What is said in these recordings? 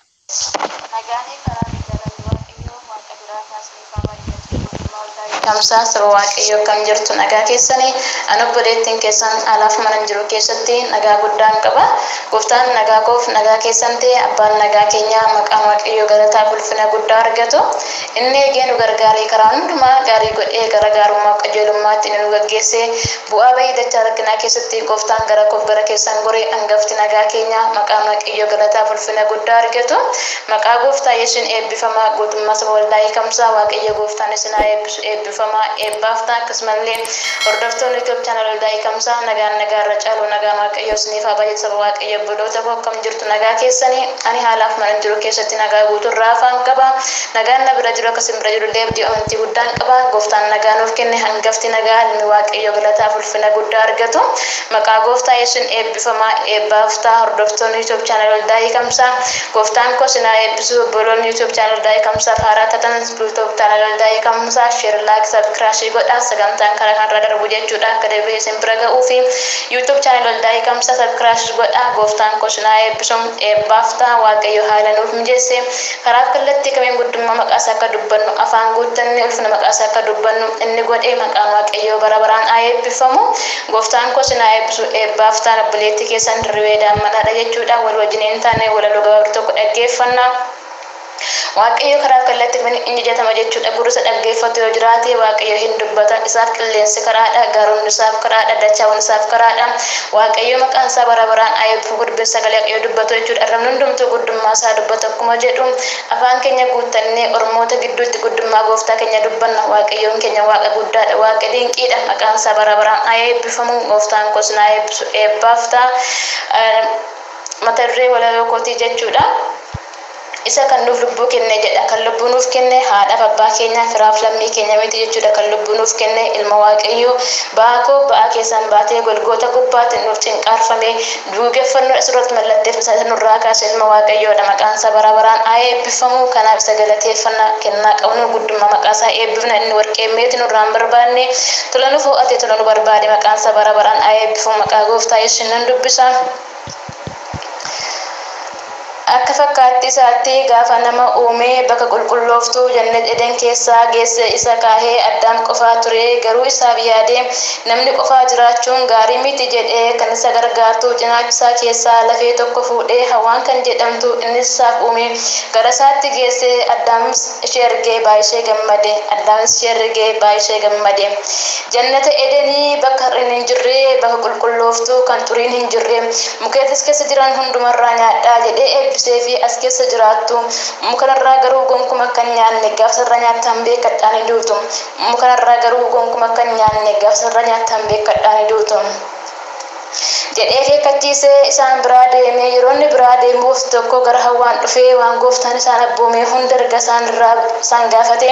Nagaanii fi araarri jaalalli Waaqayyoo Waaqa biraa kaa isiniif haa baay'atu Guutummaa waldaa Youtube. Tamsaasa saba Waaqayyoo akkam jirtu nagaa keessani Ani obboleettiin keessan alaaf manan jiru keessatti nagaa guddaan qaba Gooftaan nagaa koof nagaa keessan ta'e Abbaan nagaa keenyaa maqaan Waaqayyoo galataa fi ulfina guddaa argatu Inni eegee nu gargaaree karaa hundumaa gaarii godhee gara gaarummaaf qajeelummaatti inni nu gaggeessee bu'aa ba'ii dachaa rakkinaa keessatti gooftaan gara koof gara keessan gore angafti nagaa keenyaa maqaan waaqayyoo galataaf ulfina guddaa argatu maqaa gooftaa yesusin eebbifamaa guutummaa saba waldaa hiikamsaa waaqayyoo gooftaan isin haa eebbisu eebbifamaa eebbaaf ta'a akkasumallee hordoftoonni YouTube channel waldaa hiikamsaa nagaan nagaa irra caalu nagaan waaqayyoo isiniif haa baay'atu saba waaqayyoo obboloota koo akkam jirtu nagaa keessanii Ani haalaaf manan jiru keessatti nagaa guutuu irraa hafaan qaba. Nagaan na bira jiru akka isin bira jiru illee abdii amantii guddaan qaba. Gooftaan nagaa nuuf kenne hangafti nagaa ilmi Waaqayyoo galataaf ulfina guddaa argatu. Maqaa Gooftaa Yesuusiin eebbifamaa eebbaaf ta'a hordoftoonni YouTube Channel Waldaa Hiikamsaa. Gooftaan koo isin haa eebbisu obboloonni YouTube Channel Waldaa Hiikamsaaf haaraa taatan YouTube Channel Waldaa Hiikamsaa Share Like Subcrashe godhaa sagantaan karaa kanarraa darbu jechuudha akka deebi'ee isin bira ga'uufi. YouTube channel Waldaa Hiikamsa subcrash godhaa Gooftaan koo sin haa eebbisu Eebbaaf ta'a Waaqayyo haala nuuf mijeesse karaaf kallattii kamiin guddummaa maqaa isaa akka dubbannu afaan guuttannee ulfina maqaa isaa akka dubbannu inni godhe maqaan Waaqayyoo bara baraan haa eebbiffamu Gooftaan koo sin haa eebbisu Eebbaaf ta'an obboleettii keessan Dirribee Daammanaa dha jechuudha walii wajjiniin taanee walaloo gabaabduu tokko dhaggeeffannaa. Waaqayyo karaa kallatti kamiin in jajatama jechuudha gurri isa dhaggeeffatu yoo jiraate Waaqayyo hin dubbata isaaf qilleensi karaadha gaaronni isaaf karaadha dachaawwan isaaf karaadha Waaqayyo maqaan isaa bara baraan haa eebbifamu dubbiin sagalee Waaqayyo dubbatu jechuudha arrabni hundumtuu guddummaa isaa dubbata akkuma jedhu afaan keenya guuttannee ormoota gidduutti guddummaa gooftaa keenya dubbanna Waaqayyoon keenya waaqa guddaadha waaqa dinqiidha maqaan isaa bara baraan haa eebbifamu gooftaan koo isin haa eebbisu eebbaaf ta'a mata duree walaloo kootii jechuudha. Isa kan nuuf lubbuu kenne jedha. Kan lubbuu nuuf kenne haadhaaf abbaa keenya, firaaf lammii keenya miti jechuudha. Kan lubbuu nuuf kenne Ilma Waaqayyoo ba'aa koo ba'aa keessan baatee Golgoota gubbaatti nuuf cinqaarfamee, duugeffannoo isa irratti mallatteefame sana isa nurraa kaase Ilma Waaqayyoodha. Maqaan isaa bara baraan haa eebbifamu. Kanaaf isa galateeffanna. Kennaa qabnuun guddummaa maqaa isaa eebbifna. Inni warqee meetii nurraa hin barbaanne. Tola nu fo'ate, tola nu barbaade. Maqaan isaa bara baraan haa eebbifamu. Maqaa Gooftaa Yesuusiin nan dubbisa. Akka fakkaattii isaatti gaafa nama uume bakka qulqullooftuu Jannat Eden keessaa geesse isa kaahee Addaam qofaa ture garuu isaaf yaade namni qofaa jiraachuun gaarii miti jedhee kan isa gargaartu cinaacha isaa keessaa lafee tokko fuudhee Hawwaan kan jedhamtu innis isaaf uume gara isaatti geesse Addaamis ishee argee baay'ishee gammade Addaamis ishee argee baay'ishee gammade Jannata Edenii, bakka hir'inni hin jirre, bakka qulqullooftuu, kan xuriin hin jirre, mukeeti as keessa jiran hunduma irraa nyaadhaa jedhee eebbiseefii as keessa jiraattu. Muka kana irraa garuu gonkuma akka hin nyaanne, gaafa isa irraa nyaattan beekkadhaa ni duutu. Muka kana irraa garuu gonkuma akka hin nyaanne, gaafa isa irraa nyaattan beekkadhaa ni duutu. jedhee akeekkachiisee isaan biraa deeme. Yeroo inni biraa deemuuf tokko gara hawwaan dhufee waan gooftaan isaan abboomee hunda erga isaan irraa isaan gaafate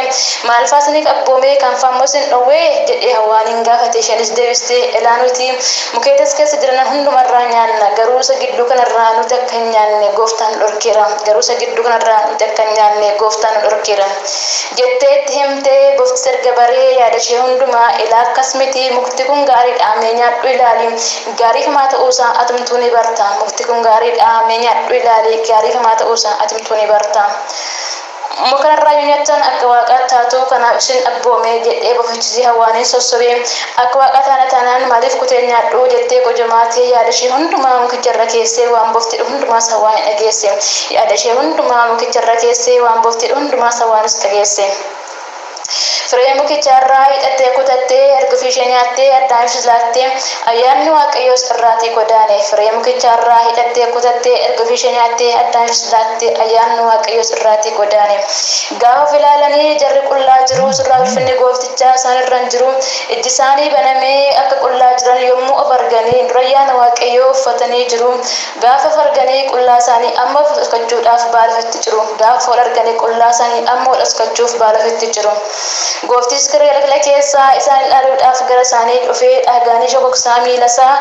maal faa isiniif abboomee kan faa immoo isin dhowwee? jedhee hawwaaniin gaafate isheenis deebistee elaa nuti mukeeta as keessa jiranan hunduma irraa nyaanna garuu isa gidduu kana irraa nuti akka hin nyaanne gooftaan nu dhorkeera garuu isa gidduu kana irraa nuti akka hin nyaanne gooftaan nu dhorkeera. Jettee itti himte. Boftis erga baree yaadashee hundumaa Ilaa akkas miti mukti kun gaariidha mee nyaadhu ilaali gaarii famaa ta'uusaa atumtuu ni barta mukti kun gaariidha mee nyaadhu ilaali gaarii famaa ta'uusaa atumtuu ni barta Muka kanarraa yoo nyaattan akka waaqaat taatu kanaaf isin abboome jedhee bofichisi Hawwaanin sossobe Akka Waaqaa taana taanaan maaliif kuteen nyaadhu? jettee gojomaa tee yaada ishee hundumaa mukicha irra keessee waan bofti jedhu hundumaa sawwaa ni dhageesse. Yaada ishee hundumaa mukicha irra keessee waan bofti jedhu hundumaa sawwaanis dhageesse. Firee mukichaa irraa hiixattee kutattee erga ofii ishee nyaattee Addaamiifis laattee ayyaanni Waaqayyoos irraatii godaane. Firee mukichaa irraa hiixattee kutattee erga ofii ishee nyaattee Addaamiifis laattee ayyaanni Waaqayyoos irraatii godaane. Gaafa of ilaalanii jarri qullaa jiru, surraa ulfinni Gooftichaa isaan irra hin jiru. Ijjisaanii banamee akka qullaa jiran yommuu of arganii, durayyaana Waaqayyoo uffatanii jiru. Gaafa of arganii qullaasaanii amma dhoskachuudhaaf baala ofitti ciru. Gaafa wal arganii qullaasaanii amma wal dhoskachuuf baala ofitti ciru. Gooftichis kirrii halakla keessaa isaan ilaaluudhaaf gara isaanii dhufee dhaagaanii shokoksaa miilasaa,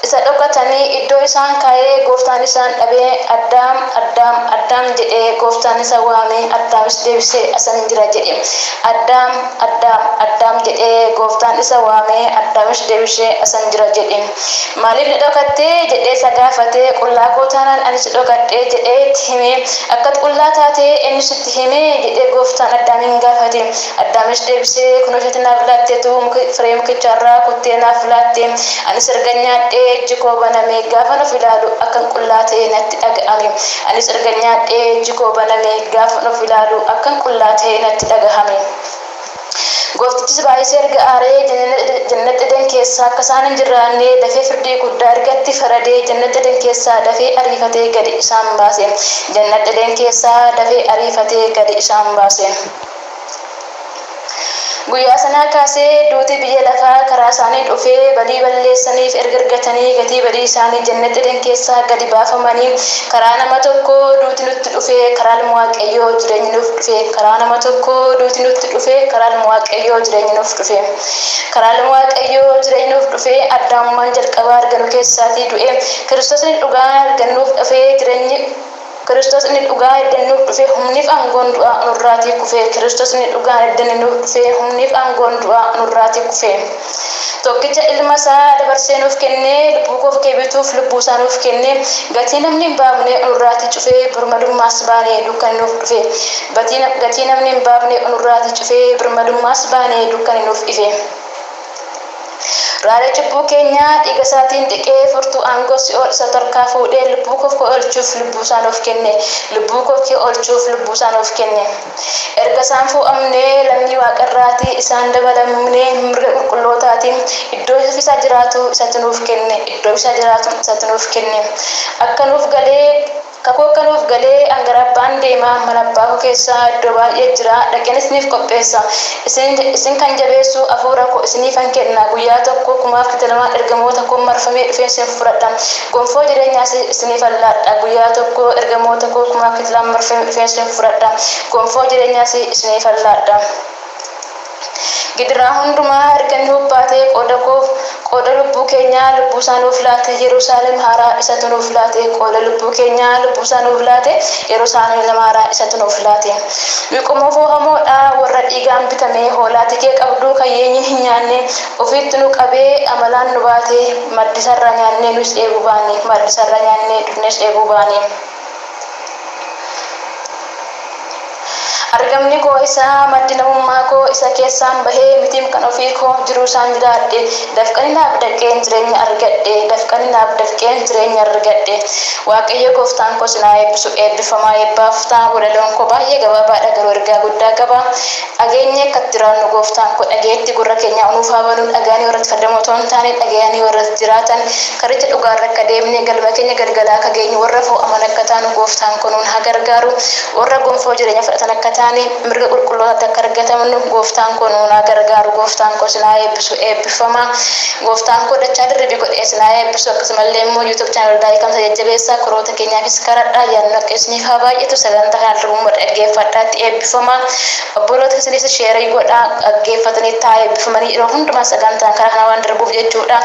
Isa dhokatanii iddoo isaan kaa'ee gooftaan isaan dhabee Addaam, Addaam, Addaam jedhee gooftaan isa waame Addaamis deebisee asan jira jedhe. Addaam, Addaam, Addaam jedhee gooftaan isa waame Addaamis deebisee asan jira jedhe. Maaliif na dhokatte? jedhee isa gaafate. Qullaa koo taanaan ani si dhokadhe jedhee itti hime. Akkat qullaa taate eenyu sitti hime? jedhee gooftaan Addaamiin gaafate. Addaamis deebisee kunoo isheetti naaf laatteetu muka firee mukichaa irraa kuttee naaf laatte. Anis ergan nyaadhee ijji koo baname, gaafan of ilaalu akkan qullaa ta'e natti dhaga'ame. Anis ergan nyaadhee ijji koo baname, gaafan of ilaalu akkan qullaa ta'e natti dhaga'ame. Gooftichis baay'isee erga aaree, Jannat Eden keessa akka isaan hin jirraanne dafee firdii guddaa erga itti faradee, Jannat Eden keessaa dafee ariifatee gadi isaan baase. Jannat Eden keessaa dafee ariifatee gadi isaan baase. Guyyaa sanaa kaasee duuti biyya lafaa karaa isaanii dhufee badii balleessaniif erga argatanii gatii badii isaanii Jannata Eden keessaa gadi baafamanii karaa nama tokkoo duuti nutti dhufee karaa ilma Waaqayyoo jireenyi nuuf dhufee karaa nama tokkoo duuti nutti dhufee karaa ilma Waaqayyoo jireenyi nuuf dhufee karaa ilma Waaqayyoo jireenyi nuuf dhufee Addaamummaan jalqabaa arganu keessaatii du'ee Kiristosni dhugaan argannuuf dhufee jireenyi Kiristoos inni dhugaa edda nuuf dhufee humniif aangoon du'aa nurraatii kufee Kiristoos inni dhugaan edda nuuf dhufee humniif aangoon du'aa nurraatii kufee Tokkicha ilma isaa dabarsee nuuf kennee lubbuu koof kee bituuf lubbuu isaa nuuf kennee Gatii namni hin baafne nurraatii cufee birmadummaas baanee dukkani nuuf dhufee Gatii namni hin baafne nurraatii cufee birmadummaas baanee dukkani nuuf ifee. Raara cubbuu keenyaa dhiigasaatiin dhiqee, furtuu aangoo si'ool isa torkaa fuudhee, lubbuu koof koo oolchuuf lubbuusaa nuuf kenne. Lubbuu koof kee oolchuuf lubbuusaa nuuf kenne. Erga isaan fuu'amnee, lammii waaqarraati, isaan dabalamnee, mirga qulqullootaatiin, iddoo isa ofiisaa jiraatu isatu nuuf kenne, iddoo isaa jiraatu isatu nuuf kenne. Akka nuuf galee. Kakuu akka nuuf galee an gara Abbaan deema, mana Abbaa koo keessa iddoo baay'ee jira, dhaqeen isiniif qopheessa. Isin, isin kan jabeessu Hafuura koo isiniifan kenna, guyyaa tokko kumaaf kitalamaan ergamoota koon marfamee dhufeen isin fudhadha, gonfoo jireenyaas isiniifan laadha, guyyaa tokko ergamoota koo kumaaf kitilaan marfamee dhufeen isin fudhadha, gonfoo jireenyaas isiniifan laadha. Gidiraa hundumaa erga inni hubbaatee qooda koof qooda lubbuu keenyaa lubbuu isaa nuuf laate Yerusaalem haaraa isatu nuuf laate qooda lubbuu keenyaa lubbuu isaa nuuf laate Yerusaalem haaraa isatu nuuf laate Nuyi qomoo foohamoo dha warra dhiigaan bitamee hoolaa tikee qabduu kan yeenyiin hin nyaanne ofiitti nu qabee amalaan nu baate maaddii isaa irraa nyaannee nuyis dheebuu baane maaddii isaa irraa nyaannee dugnees dheebuu baane. Argamni koo isa maddi namummaa koo isa keessaan bahee mitiim kan ofii koo jiruu isaan jiraadhe dafqani naaf dafqeen jireenya argadhe dafqani naaf dafqeen jireenya argadhe waaqayyoo gooftaan koo sinaa eebbisu eebbifamaa eebbaaf ta'a walaloon koo baay'ee gabaabaadha garuu ergaa guddaa qaba Dhageenyee akka itti jiraannu Gooftaan koo dhagayetti gurra keenyaa nuuf haa banu, dhagayanii warra itti fayyadaman otoo hin taane, dhagayanii warra itti jiraatan, karicha dhugaa irra akka deemnee galma keenya galgala akka geenyu, warra foo'aman akka taanu Gooftaan koo nuun haa gargaaru, warra gonfoo jireenyaa fudhatan akka taane, mirga qulqullootaatti akka argatamnu Gooftaan koo nuun haa gargaaru, Gooftaan koo isin haa eebbisu, eebbiffamaa. Gooftaan koo dachaa dirribii godhee isin haa eebbisu, akkasuma illee immoo YouTube Channel Waldaa Hiikamsaa jajjabeessaa, korooota keenyaafis kadhadhaa, ayyaanni Waaqayyoo isiniif haa baay'atu, sagantaa kana al-duraa immoo dhaggeeffadhaa itti eebbiffamaa. Obboloota isiniis share godhaa dhaggeeffatanii taa eebbifamanii yeroo hundumaa sagantaan karaa kana waan darbuuf jechuudha.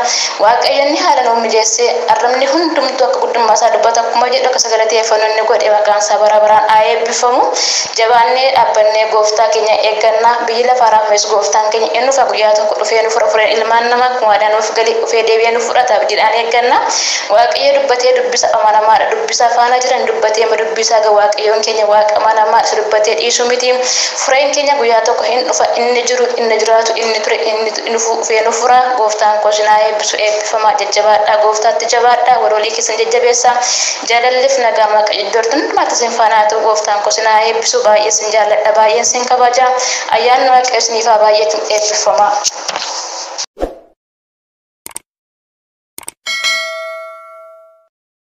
Waaqayyo inni haala nuuf mijeessee arrabni hundumtuu akka guddummaa isaa dubbata akkuma jedhu akka isa galateeffannu inni godhe maqaan isaa bara baraan haa eebbifamu. Jabaannee dhaabbannee gooftaa keenya eegganna. Biyyi lafaa raafamee gooftaan keenya in dhufa guyyaa tokko dhufee nu fura fureen ilmaan namaa akkuma waadaa nuuf gale dhufee deebi'ee nu fudhata abdiidhaan eegganna. Waaqayyo dubbatee dubbisa amanamaadha. dubbisaa faana jiran dubbatee ma dubbisaa ga waaqayyoon keenya waaqa amanamaa isa dubbatee dhiisuu miti fureen keenya guyyaa tokko hin dhufa inni jiru inni jiraatu inni ture inni dhufu dhufee nu fura gooftaan koo sinaa eebbisu eebbifamaa jajjabaadhaa gooftaatti jabaadhaa wal walii keessan jajjabeessaa jaalallif nagaan waaqayyo iddoo jirtan hundumaatti sin faana haa ta'u gooftaan koo sinaa eebbisu baay'ee sin jaalladha baay'een sin kabaja ayyaanni waaqayyo siniif haa baay'atu eebbifamaa.